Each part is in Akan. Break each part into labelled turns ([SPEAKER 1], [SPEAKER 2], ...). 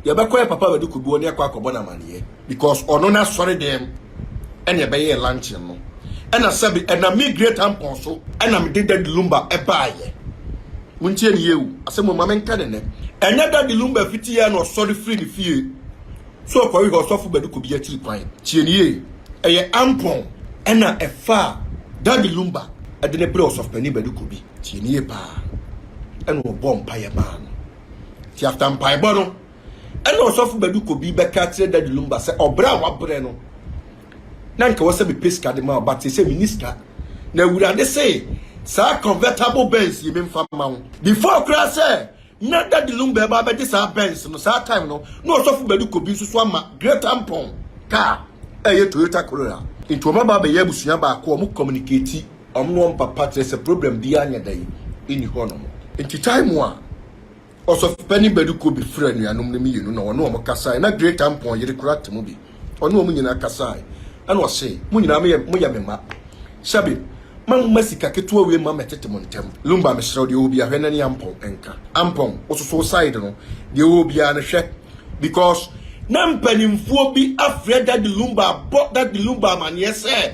[SPEAKER 1] Yɛbɛkɔ yɛ papa bɛde kodoɔ ne akɔ akɔbɔ no amaneɛ because ɔno no asɔre dɛm ɛne ɛbɛyɛɛ luncheon no ɛna sɛbe ɛnam me great ampɔn so ɛna mede dadi lumba ɛbaayɛ montie ne yie o asɛm ɔma menka ne nɛ ɛnyɛ dadi lumba fiti yɛ na ɔsɔre firi ne fie so ɔkɔhwehwɛ ɔsɔfo bɛde kobi akyiri kwan tie ne yie ɛyɛ ampɔn ɛna ɛfa dadi lumba ɛde ne berɛ ɔsɔfo panin bɛde kobi tie ne yie paa ɛna ɔbɔ mpaeɛ maa no Nti after mpaebɔ no, ɛna ɔsɔfo Badu Kobi bɛka akyerɛ Daddy Lumba sɛ ɔbrɛ a wabrɛ no, na nka wɔ sɛ mepɛ sika de ma wo, but sɛ menni sika. Na Awurade se saa convertible Benz yi memfa ma wo. Before koraa sɛ na Daddy Lumba ɛba abɛgye saa Benz no, saa time no, na ɔsɔfo Badu Kobi nso so ama Great Ampon car a ɛyɛ Toyota Corolla. Nti wɔn aba abɛyɛ abusua baako a wɔn communicate. Ɔmo ne wɔn papa kyerɛ sɛ problem biaa nyɛ dɛn nni hɔ nom. Nti time mu a Ɔsɔfopanin Badu Kobi frɛɛ anuanom no mmienu na ɔne wɔn kasae, na Great Ampon yere koraa te mu bi, ɔne wɔn nyinaa kasae, ɛna ɔse, Mo nyinaa moyɛ moyɛ me mma. Sɛbe mamma sika ketewa wei mma mɛtete mo ntɛm. Lumba mesrɛ wo deɛ ɔwɔ biaa hwɛ na ne Ampon nka. Ampon, wososo wo side no, deɛ ɔwɔ biaa no hwɛ because. Na mpaninfoɔ bi afrɛ Daddy Lumba abɔ Daddy Lumba amaneɛ sɛ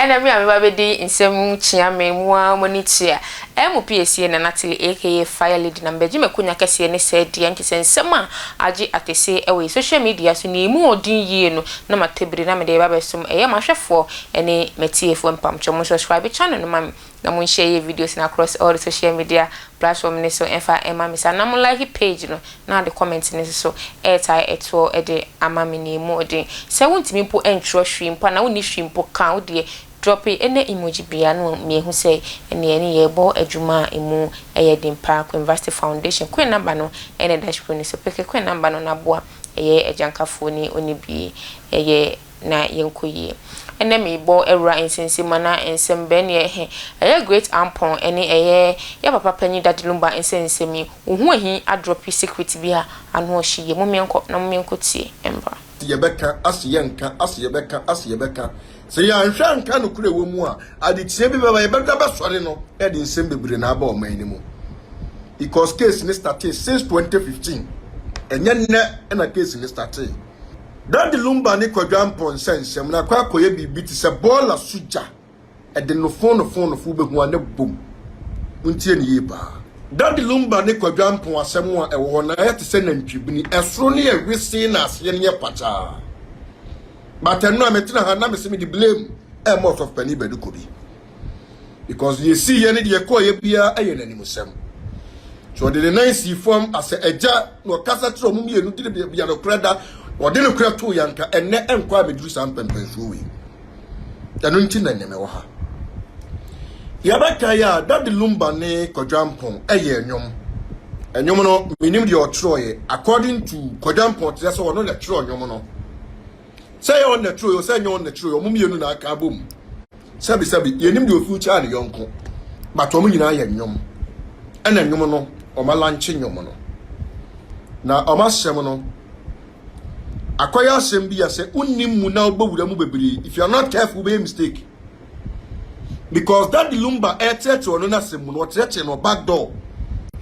[SPEAKER 2] Ɛna me a me ba bɛdi nsɛm kyea me mu ara m'ani kye a, ɛmu pie sie na Natalie aka Fire Lady na mebɛgye m'akonya kɛseɛ ne sɛ deɛ nkyɛ sɛ nsɛm a agye akɛse wɔ yɛ social media so na ɛmu ɔden yie no na matɔ bire na mede reba abɛsom ɛyɛ m'ahwɛfoɔ ne m'atiefoɔ mpamkyɛw mo subscribe channel no ma me Na mo nhyɛ yɛ videos no across all the social media platform no so ɛmfa ɛma me saa na mo like page no na ade comment no nsoso ɛɛtae ɛtoɔ de ama me nea ɛmu ɔden sɛ wo ntumi mpo ɛntwerɛ hwee mpo anaa wo nni hwee mpo ka a wo deɛ drope ɛnɛ emoji biaa na ma yɛhu sɛ ɛnɛ yɛne yɛɛbɔ adwuma a ɛmu ɛyɛ den paa Queenvasty Foundation Queen number no ɛna ɛda screen no so peke Queen number no na boa ɛyɛ agyankafoɔ ni ɔnibie ɛyɛ na yɛnkɔ yie. Ɛnnɛ merebɔ awura nsensemana nsɛmbɛn no yɛ he, ɛyɛ Great Ampon ɛne ɛyɛ yɛ papa panyin Daddy Lumba nsɛnsɛm yi, wo ho ahi adrɔpi secret bi a ano ɔhye yie. Mommeɛnkɔ na mommeɛnkɔ tie mbra. Se yɛbɛka a se
[SPEAKER 1] yɛnka a se yɛbɛka a se yɛbɛka se yɛanhwɛ anka nokorɛ a ɛwɔ mu a adetia bi bɛba yɛbɛdwa bɛsɔre no na yɛde nsɛm bebree na aba ɔman no mu because case no startee since 2015 ɛnyɛ nnɛ na case no startee. Daddy Lumba ne Kwadwo Ampon nsɛnsɛm no akɔ akɔyɛ biribi te sɛ bɔɔla so gya, ɛde nofonofonofo wobɛhu a na bom. Montie no yie paa. Daddy Lumba ne Kwadwo Ampon asɛm a ɛwɔ hɔ no ayɛ te sɛ nantwibini, ɛsoro no yɛ wesee na aseɛ no yɛ pakyaa. But ɛno a metena ha na mese mede blame ɛɛma Ɔsɔfopanin Bɛdekɔ bi. because deɛ ɛsiiɛ ne deɛ ɛkɔeɛ biara yɛ n'animusɛm nti ɔde ne nan sii fam asɛ agya na ɔkasa kyerɛ ɔmo mmienu de ne bia nokorɛ da ɔde nokorɛ too yɛ anka ɛnɛ ɛnkɔ a meduru saa mpɛmpɛnsuo wei ɛno nti na ɛnɛ mewɔ ha yɛbɛka yɛ a dade lumba ne kɔdwampɔn ɛyɛ nnwom ɛnwom no menim deɛ ɔtwerɛeɛ according to kɔdwampɔn kyerɛ sɛ ɔno na ɛtwerɛ nnwom no sɛ ɛyɛ ɔna turo yɛ sɛ ɛnyɛ ɔna turo yɛ ɔmo mmienu na aka abom sɛbi sɛbi yɛnim deɛ ofi kyɛn ne yɔnko but ɔmo nyinaa yɛ nnwom ɛna nnwom no ɔmo alankye nnwom no na ɔmo asɛm no akɔyɛ asɛm bi a sɛ wonim mu na wobɛwura mu bebree if you are not careful wobɛyɛ mistake because daddy lumba ɛrekyerɛkyerɛ ɔno n'asɛm mu no ɔkyerɛkyerɛ no back door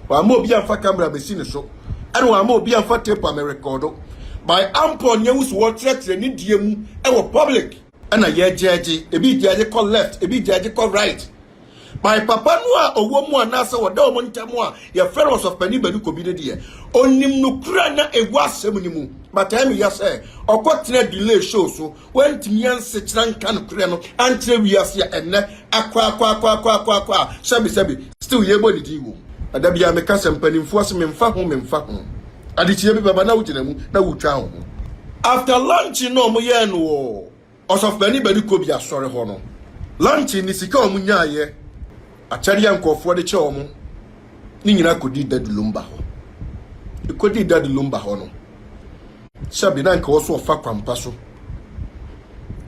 [SPEAKER 1] wama obi amfa camera mesi ne so ɛna wama obi amfa tape a merekɔdo by ampɔ nea wusu wɔkyerɛkyerɛ ne die mu ɛwɔ public ɛna yɛgyɛgye ebi gyɛgye kɔ left ebi gyɛgye kɔ right by papa no a ɔwɔ mu anaasɛ wɔda wɔn ntam a yɛfrɛ no ɔsɔfpani bani kɔbi no deɛ onim no kura na ɛwɔ asɛm no mu but ɛmi yɛ sɛ ɔkɔtena delay show so Wantumi ansekyera nka nokorɛ no ankyerɛ wiase a ɛnnɛ akwaakwaakwaakwaakwa a sɛbesɛbe still yɛbɔ ne din wom. Na da biara meka sɛ mpanimfoɔ se memfa ho memfa ho. Adekyeɛ bi bɛba na wogyina mu na wotwa wo ho. After launching na ɔmo yɛɛ no wɔ Ɔsɔfopanin Badi Kobi Asɔre hɔ no, launching ne sika a ɔmo nyaeɛ. Akyɛde a nkurɔfoɔ de kyɛ wɔn no nyinaa kɔdii Dadu Lumba hɔ. Ɛkɔdii Dadu Lumba hɔ no, sɛbe na anka wɔso ɔfa kwampa so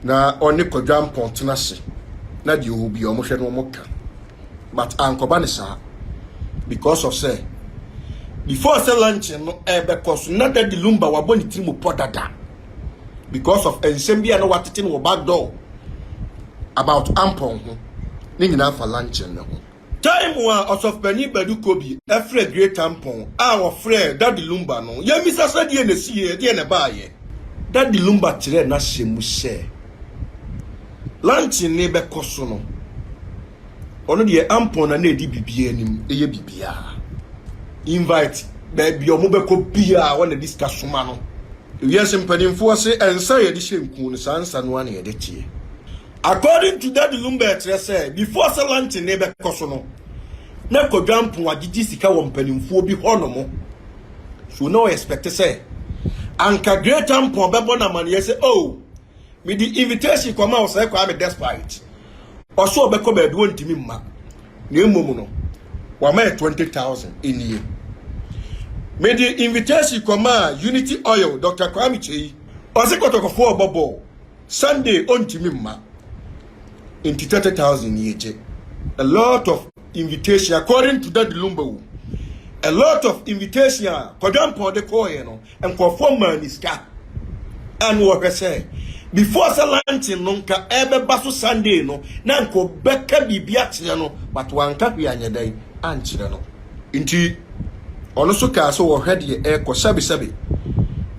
[SPEAKER 1] na ɔne Kwadwo Ampɔn tena ase na deɛ ɔwɔ bia wɔhwɛ no wɔn ka. But ankɔba ne saa because of sɛ before sɛ luncheon no ɛbɛkɔ so na Dadu Lumba wabɔ ne tiri mu pɔ dada because of nsɛm bi a na watete no wɔ back door about ampɔn ho ne nyinaa fa lankyɛn no ho. Time a Ɔsɔfopani Badu Kobi frɛɛ Great Ampɔn a ɔfrɛɛ Daddy Lumba no, yɛmmisa sɛ deɛn na ɛsiiɛ, deɛn na ɛbaeɛ? Daddy Lumba kyerɛɛ n'asɛm mu sɛ lankyɛn no rebɛkɔ so no, ɔno deɛ ampɔn na na ɛdi biribiara anim, ɛyɛ biribiara. Invite baabi a wɔbɛkɔ biara, wɔn na ɛdi sika soma no. Wiase mpanimfoɔ se nsa a yɛde hyɛ nku no saa nsa no ara na yɛde teɛ. According to Daddy Lumba ɛkyerɛ sɛ before sɛ launching no bɛkɔ so no na Kwadwo Ampong agyegye sika wɔ mpanimfoɔ bi hɔnom so na ɔ expect sɛ anka Great Ampong bɛbɔ no amaneɛ sɛ oh mede invitation kɔma wo sɛ Kwame despite ɔse ɔbɛkɔ baabi ɔntumi mma na mmom no wama yɛ twenty thousand nie mede invitation kɔmaa unity oil dr kwame kyei ɔse kɔtɔkɔfoɔ ɔbɔ bɔɔl sunday ɔntumi mma nti thirty thousand nie gye a lot of invitation according to dadi lumba wo a lot of invitation a kɔdwampɔn de kɔɔyɛ no Nkurɔfoɔ maa no sika a na wɔhwɛ sɛ before sɛ luncheon no nka ɛbɛba so Sunday no na nka ɔbɛka biribi akyerɛ no but wanka hwee anyɛ dɛn ankyerɛ no. Nti ɔno nso kaa sɛ ɔhwɛ deɛ ɛrekɔ sɛbe sɛbe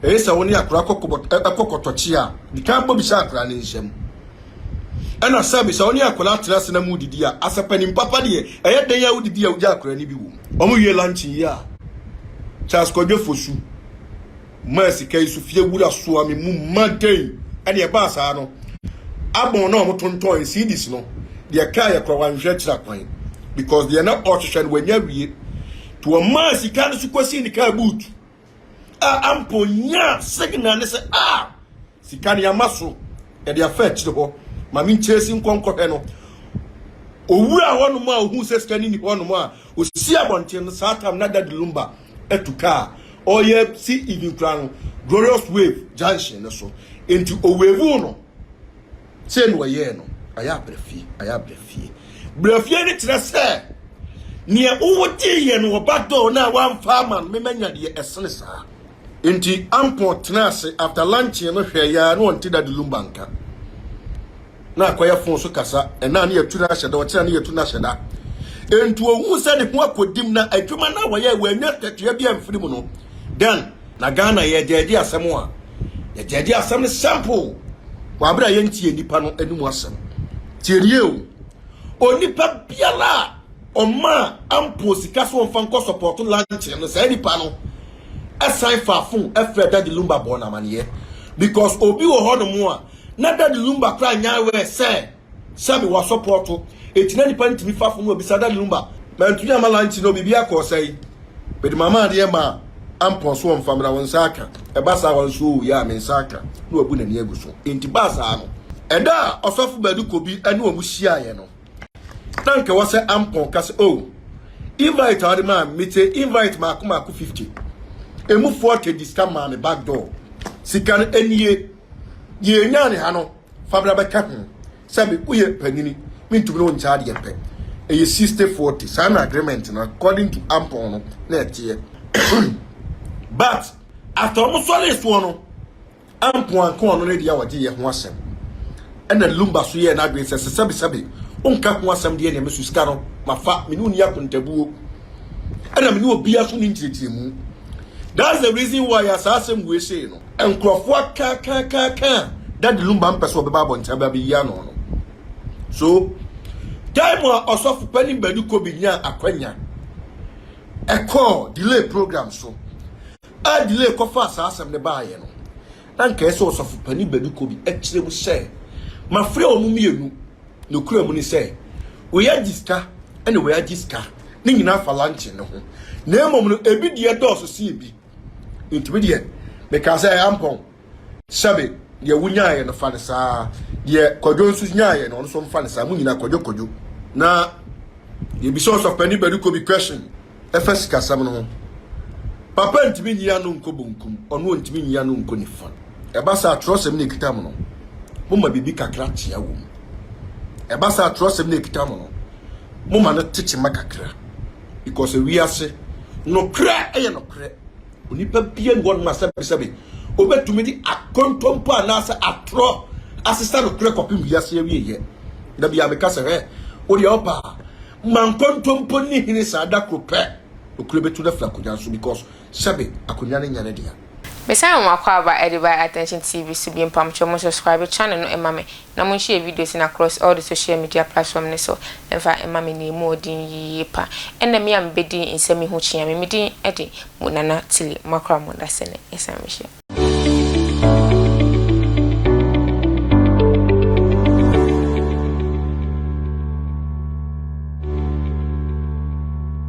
[SPEAKER 1] ɛyɛ sɛ wo ne akwadaa kɔ kɔbɔ ɛkɔ kɔtɔkye a, di kan bɔ bisa akwadaa no nsam. Ɛna sɛbi sɛ wo ne akwadaa tena ase na mo didi a, asɛ panin papa deɛ, ɛyɛ dɛn a wodidi a wogya akwadaa no bi wom. Wɔn wie luncheon yi a, Charles Kwadwo Fosu maa sika yi so fie wura soa me mu ma dɛn? Ɛna ɛbaa saa no, abɔn na wɔn tontɔn cedis no, deɛ kaa yɛ kora wanhwɛ akyira kwan because deɛ na ɔrehwehwɛ no wanya wie. To wɔn maa sika no so kɔsii ne kaa boot a ampa onyaa signal ne sɛ ah Sika no yɛama so, yɛde afa akyire hɔ. Maame nkyerɛsi nkɔ nkɔhwɛ no. Owura hɔnom a ohun sɛ sika no ni hɔnom a osi abɔnten no saa tam na Daddy Lumba atu kaa. Ɔyɛ si even kura no Glorious Wave junction no so. Enti owevu no. Sɛ na ɔyɛɛ no. Ayɛ abrɛfie, ayɛ abrɛfie. Brɛfie no kyerɛ sɛ neɛ wowogyeeɛ no ɔba dɔɔ no a wamfa ama no memanya deɛ ɛsene saa. Nti Ampon tenaa ase after lunchee no hwɛɛ yɛ a na ɔnte Daddy Lumba nka. Na akɔyɛ fon so kasa, ɛna a na yɛatu no ahyɛ da, ɔkyena na yɛatu no ahyɛ da. Nti ohuu sɛ ne ho akɔdim na adwuma no a wɔyɛɛ wɔannya akatua bi amfiri mu no, then na Ghana yɛgyaagye asɛm a yɛgyaagye asɛm no simple wɔ abere a yɛntie nnipa no anim asɛm. Tie no yie o, onipa biara a ɔmaa Ampon sika sɛ ɔmfa nkɔ support lunchee no, saa nipa no san faa fon frɛɛ Daddy Lumba bɔɔ no amanneɛ because obi wɔ hɔnom a na Daddy Lumba koraa nyɛ aware sɛ sɛ mewɔ asɔpɔɔto. Enti na nipa no tumi fa fon no abisa Daddy Lumba. Mantumi amma lunch no, biribiara kɔɔ sɛn? Mede mama adeɛ maa Ampon so ɔmfa mmra, wo nsa aka. Ɛba saa wa nso oo, yeah, me nsa aka. Na wabu n'ani agu so. Enti baa saa no, ɛda a Ɔsɔfo Badu Kobi ne wɔn hyiaeɛ no, na nka wɔ sɛ ampɔn ka sɛ oh invite a ɔde maa me te invite maako maako fifty emu forty di sika maa me back door sika no anie yɛn nya ne ha no fabra bɛka ho sɛ me woyɛ panyini me ntumi no nkyɛ adeɛ pɛ ɛyɛ sixty forty saa na agreement no according to ampɔn no na ɛteɛ but after wɔn sɔre soɔ no. ampo anka ɔno ne deɛ a ɔgye yɛ ho asɛm ɛna lumba so yɛɛ n'adwene sɛ sɛ sɛbesɛbe wonka ho asɛm deɛ neɛ meso sika no mafa me ne onni akontabuo ɛna me ne obia so ne nkyerɛkyerɛmu that's the reason why a saa asɛm wei sei no nkurɔfoɔ akaakaakaaka dade lumba mpɛ sɛ ɔbɛba abɔnten aba bɛyi ano no so time a ɔsɔfo panin bani kobi nyaa akwanya ɛkɔɔ delay program so a Delay kɔfaa saa asɛm no baeɛ no, na anka ɛsɛ sɛ ɔsɔfo panin baabi kɔ bi kyerɛ mu sɛ, Mafrɛ wɔn mmienu. Nokorɛm ne sɛ, wei agye sika ɛna wei agye sika, ne nyinaa fa luncheon no ho. Na mmom no, ebi deɛ dɔɔso sen ebi. Enti me deɛ, mekaa sɛ, Ɛyɛ ampa o. Sɛbe, deɛ wo nyaaɛ no fa no saa, deɛ Kwadwo nso nyaaɛ no ɔno nso mfa no saa, mo nyinaa Kwadwo Kwadwo. Na yɛbisa Ɔsɔfopani Badikou bi question ɛfa sikasɛm no ho. Papa ntumi nyi ano nkɔ bonkum, ɔno ɔntumi nyi ano nkɔ nifa. Ɛba saa twerɛsɛm no ɛkita mo no, mo ma biribi kakra kyea wɔ mu. Ɛba saa twerɛsɛm no ɛkita mo no, mo ma no te kyema kakra. Because wiase, nokorɛ yɛ nokorɛ, Onipa biara nni hɔnom a sɛbesɛbe obetumi de akontompo anaasɛ atorɔ asesa nokorɛ kɔpem wiase awieeɛ. Da biara meka sɛ, hwɛ, wo deɛ ɔpa a, ma nkontompo nni hene saa da koro pɛ. Nokorɛ bɛtu no afiri akonnwa no so because sɛbe akonnwa no nyɛ ne dea. Mesan wo m'akwaaba
[SPEAKER 2] Adiba Attention TV so bio mpamokyɛw mo subscribe channel no ma me Na mo nhyɛ videos no across all the social media platform no so mfa mma me nea emu wɔ din yiye pa. Ɛna me a me bɛ din nsɛm yi ho kyia me me din de mo Nana Tilly moakora mo dasɛ no yɛsan mehyɛ.